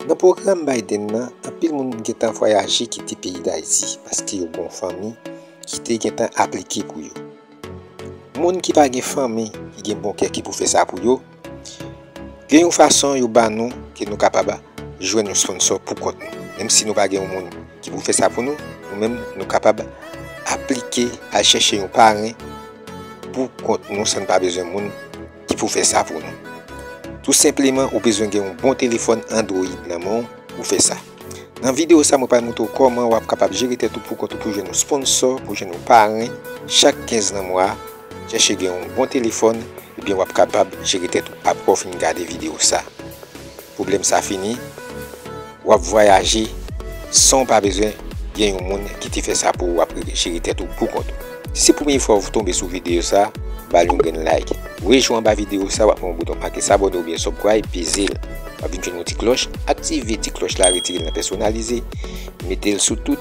Nan pwogram Biden nan, anpil moun gentan vwayaje kite peyi Dayiti paske yo gon fanmi ki te gentan aplike pou yo. Moun ki pa gen fanmi ki gen bon kè ki pou fè sa pou yo, Gen yon fason yo ba nou ke nou kapab jwenn yon sponsò pou kont nou. Menm si nou pa gen yon moun ki pou fè sa pou nou, nou menm nou kapab aplike al chèche yon paren pou kont nou san nou pa bezwen moun ki pou fè sa pou nou. Tou senpleman ou bezwen gen yon bon telefòn Android nan men w pou fè sa. Nan videyo sa mwen pral montre w kòman wap kapab jere tèt ou pou kont ou pou jwenn yon sponsò, pou jwenn yon paren chak 15 nan mwa a. Chèche gen yon bon telefòn ebyen wap kapab jere tèt ou aprè ou fin gade video sa. Pwoblèm sa fini, wap vwayaje san ou pa bezwen gen yon moun ki te fè sa pou ou wap jere tèt ou pou kont ou. Si se premye fwa ou tonbe sou video sa, bal yon grenn like. Wè jou anba video sa wap wè yon bouton make s'abonner oubyen subcribe pezel wap vin jwenn yon ti klòch, aktive ti klòch la retirel nan pèsonalize metel sou tout.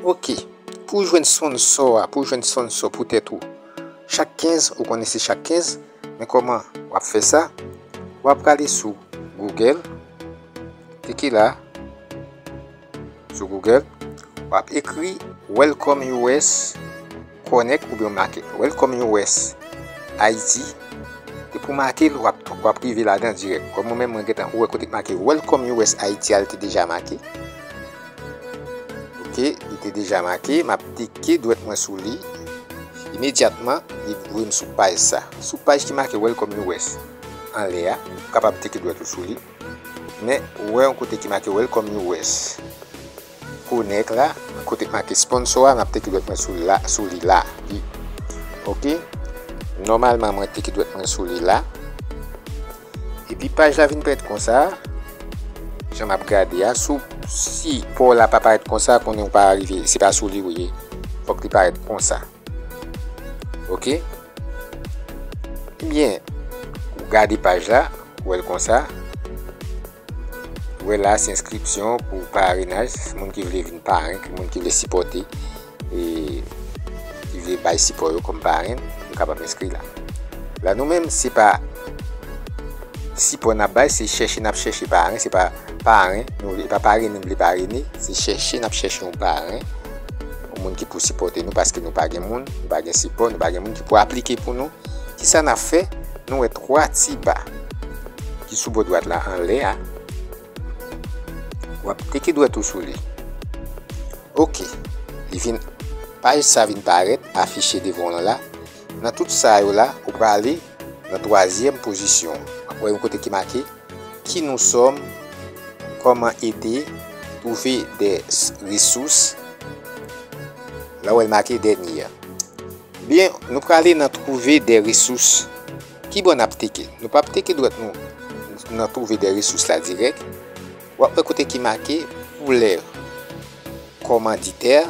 Ok, pou jwenn sponsor a, pou jwenn sponsor pou tèt ou, chak 15, ou konnen se chak 15, men kòman wap fè sa, wap prale sou Google, klike la, sou Google, wap ekri Welcome US. Connect oubyen w make Welcome US, Haiti, depi w make l wap rive ladan dirèk kòm mwen menm mwen gentan wè kote ki make Welcome US, Haiti a li te deja make ok li te deja make map teke dwèt mwen sou li imedyatman li voye m sou paj sa sou paj ki make Welcome US anlè a ou kapab teke dwèt ou sou li men ou wè yon kote ki make Welcome US, Connect la kote k make sponsor a map teke dwèt mwen sou la sou li la ui ok nòmalman mwen teke dwèt mwen sou li la epi paj la vin parèt konsa jan map gade a sou si paw la pa parèt konsa konnen ou pa rive se pa sou li ou ye fòk li parèt konsa ok ebyen ou gade paj la ou wèl konsa. Wè la se enskripsyon pou parenaj, moun ki vle vin paren, moun ki vle sipòte, ki vle bay sipò yo kòm paren, yo kapab enskri la. La nou menm se pa sipò n ap bay, se chèche n ap chèche paren, se pa paren, se pa parene nou vle parene, se chèche n ap chèche yon paren, yon moun ki pou sipòte nou paske nou pa gen moun, nou pa gen sipò, nou pa gen moun ki pou aplike pou nou. Ki sa n ap fè? Nou wè twa ti ba ki sou bò dwat la anlè a. W ap teke dwèt ou sou li. Ok. Li vin, paj sa vin parèt, afiche devan w lan la. Nan tout sa yo la, ou prale nan twazyèm pozisyon. W ap wè yon kote ki make, Ki nou sòm? Kòman ede? Twouve des resous. La w wè l make dènye a. Byen nou prale nan twouve de resous. Kibò nap teke? Nou pap teke dwèt nou nan twouve de resous la dirèk. Wap wè kote ki make pou lè kòmanditè.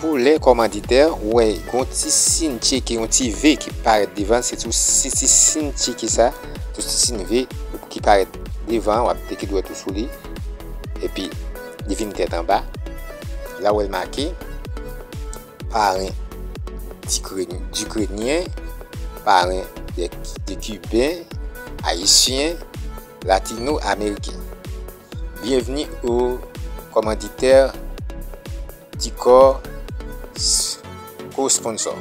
Pou lè kòmanditè ou wè gon ti sin tcheke, yon ti ve ki parèt devan l. Se sou ti sin tcheke sa, sou ti sin ve ki parèt devan an wap teke dwèt ou sou li. Epi li vin tèt anba. La ou wè l make. Paren Dikrenyen, paren de Kiben, Ayisyen, Latino Ameriken. Byenvni o Kòmanditè di Kò Kò Sponsò.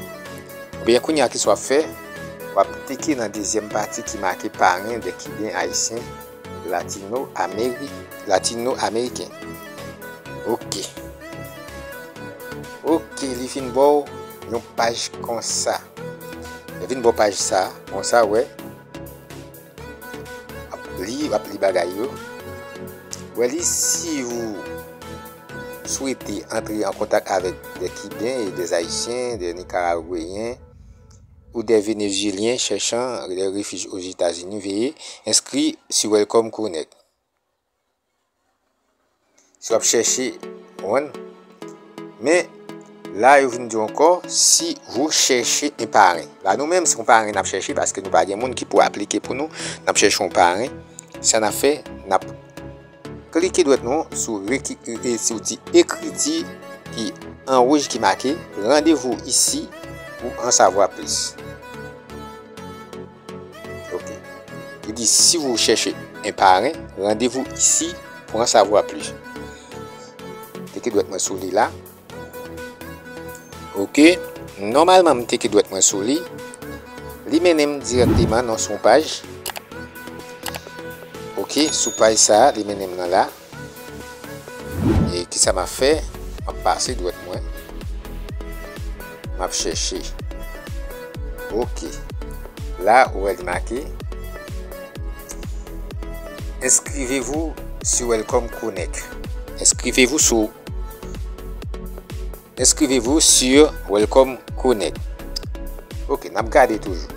Oubyen kounya kisa wap fè? Wap klike nan dezyèm pati ki make Paren de Kiben, Ayisyen. Latino amerik latino ameriken ok ok li fin baw yon paj konsa li fin baw paj sa konsa wè ap li ap li bagay yo wè li si ou swete antre an kontak avèk de kiben e de ayisyen de nikaragweyen Ou des Venezueliens cherchant le refuge aux Etats-Unis veye enskri sou Welcome Connect si wap chèche konprann men la yo vin diw ankò si wou chèche yon paren la nou menm se yon paren nap chèche paske nou pa gen moun ki pou aplike pou nou nap chèche yon paren sa nap fè nap Klike dwèt nou sou zouti ekriti ki an wouj ki make Randevou isi pou an savwa plis. Ok. Li di si vou chèche en paren, randevou isi pou an savwa plis. Klike dwèt mwen sou li la. Ok Nòmalman m teke dwèt mwen sou li Li mennen m dirèkteman nan son paj Ok sou paj sa li mennen m nan la E kisa m ap fè M ap pase dwèt mwen M ap chèche Ok La ou wè li make Inscrivez-vous sur Welcome Connect Inscrivez-vous sur Inscrivez-vous sur Welcome Connect. Ok, nap gade toujou.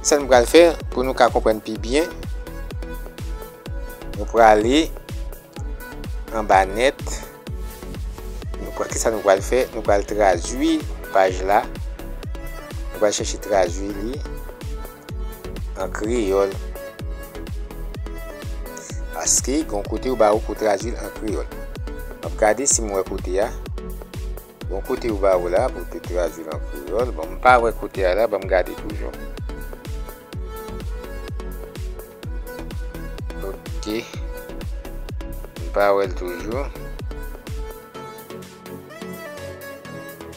Sa nou pral fè pou nou ka konprenn pi byen. Nou prale an ba net. Nou pral ki sa nou pral fè? Nou pral tradwi paj la. Nou pral chèche tradwi li. an kreyòl paske gon kote yo ba ou pou tradui l an kreyòl. M ap gade si m wè kote a. Gon kote yo ba ou la pou te tradui l an kreyòl. Bon, m pa wè kote a la, ban m gade toujou. Ok. M pa wè l toujou.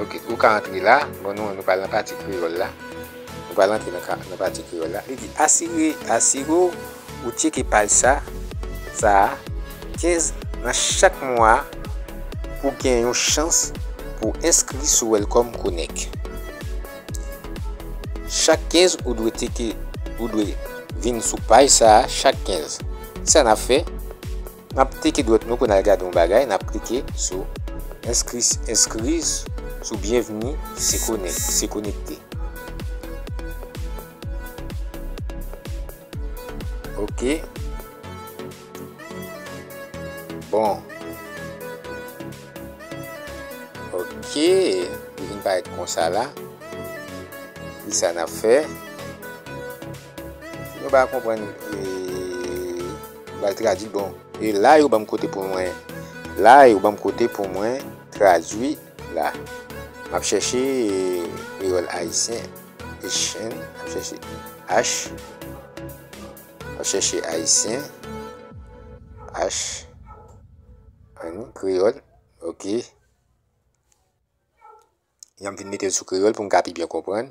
Ok, ou ka antre la. Bon nou an nou pral nan pati kreyòl la. Nou pral antre nan pati kreyòl la. Li di, asire, asire w ou tcheke paj sa, sa a, 15 nan chak mwa a pou gen yon chans pou w enskri sou Welcome Connect. Chak 15 ou dwe teke, ou dwe vin sou paj sa a chak 15. Kisa n ap fè? N ap teke dwèt nou pou n al gade yon bagay, n ap klike sou Enskri sou Byenvni se konekte. Ok. Bon. Ok. Li vin parèt konsa la. Kisa n ap fè? Mwen pa konprann bal tradwi bon. E la yo banm kote pou mwen. La yo banm kote pou mwen tradwi la. Map chèche kreyòl ayisyen. Echèn. Map chèche H. Map chèche ayisyen. H. An kreyòl. Ok. Jan m vin mete l sou kreyòl pou m ka pi byen konprann.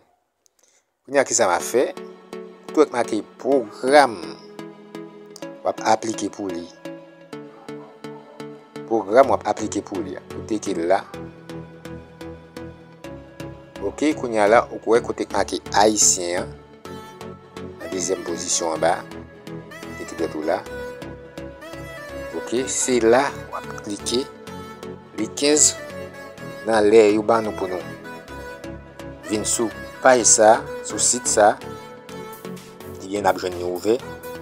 Kounye a ki sa m ap fè? Tou wè ki make pwogram w ap aplike pou li. Pwogram w ap aplike pou li a. Ou teke l la. Ok, kounye a la ou wè kote ki make Ayisyen an. Nan dezyèm pozisyon anba etikèt ou la. Ok, se la w ap klike li 15 nan lè yo ban nou pou nou vin sou paj sa, sou sit sa. Ebyen n ap jwenn li ouvè.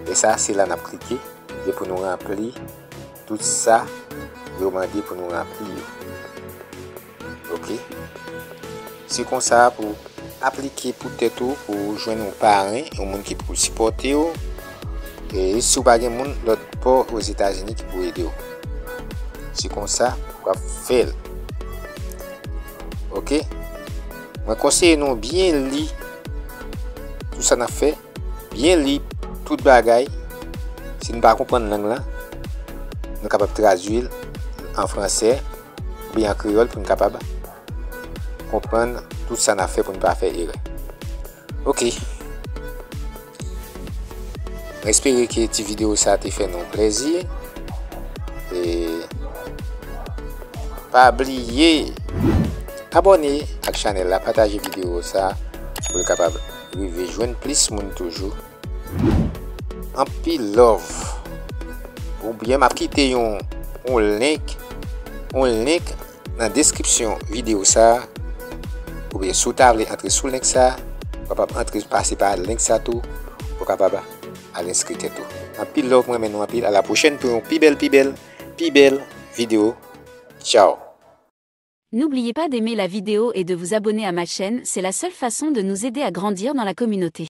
Lè sa, se la n ap klike e pou nou ranpli tout sa yo mande pou nou ranpli yo. Ok Se konsa pou aplike pou tèt ou pou ou jwenn ou paren, ou moun ki pou sipòte ou. E si ou pa gen moun lòt pò ou Etazini ki pou ede ou. Se konsa pou wap fèl. Ok? Mwen konseye nou byen li tout sa nan fè, byen li tout bagay. Si nou pa konprann lang lan, nou kapab tradwil an fransè. Li an kreyòl pou n kapab konprann tout sa n ap fè pou n pa fè erè. Ok. Mwen espere ke ti videyo sa te fè nou plezi. E pa bliye abone ak chanèl la, pataje videyo sa pou l kapab rive jwenn plis moun toujou. Anpil love pou byen map kite yon yon link yon link nan description video sa ou byen sou ta vle antre sou link sa ou kapab antre pase pa link sa tou ou kapab al enskri tèt ou anpil love mwen renmen nou anpil a la pwochèn pou yon pi bèl pi bèl pi bèl video tchao. N'oubliez pas d'aimer la vidéo et de vous abonner à ma chaîne, c'est la seule façon de nous aider à grandir dans la communauté.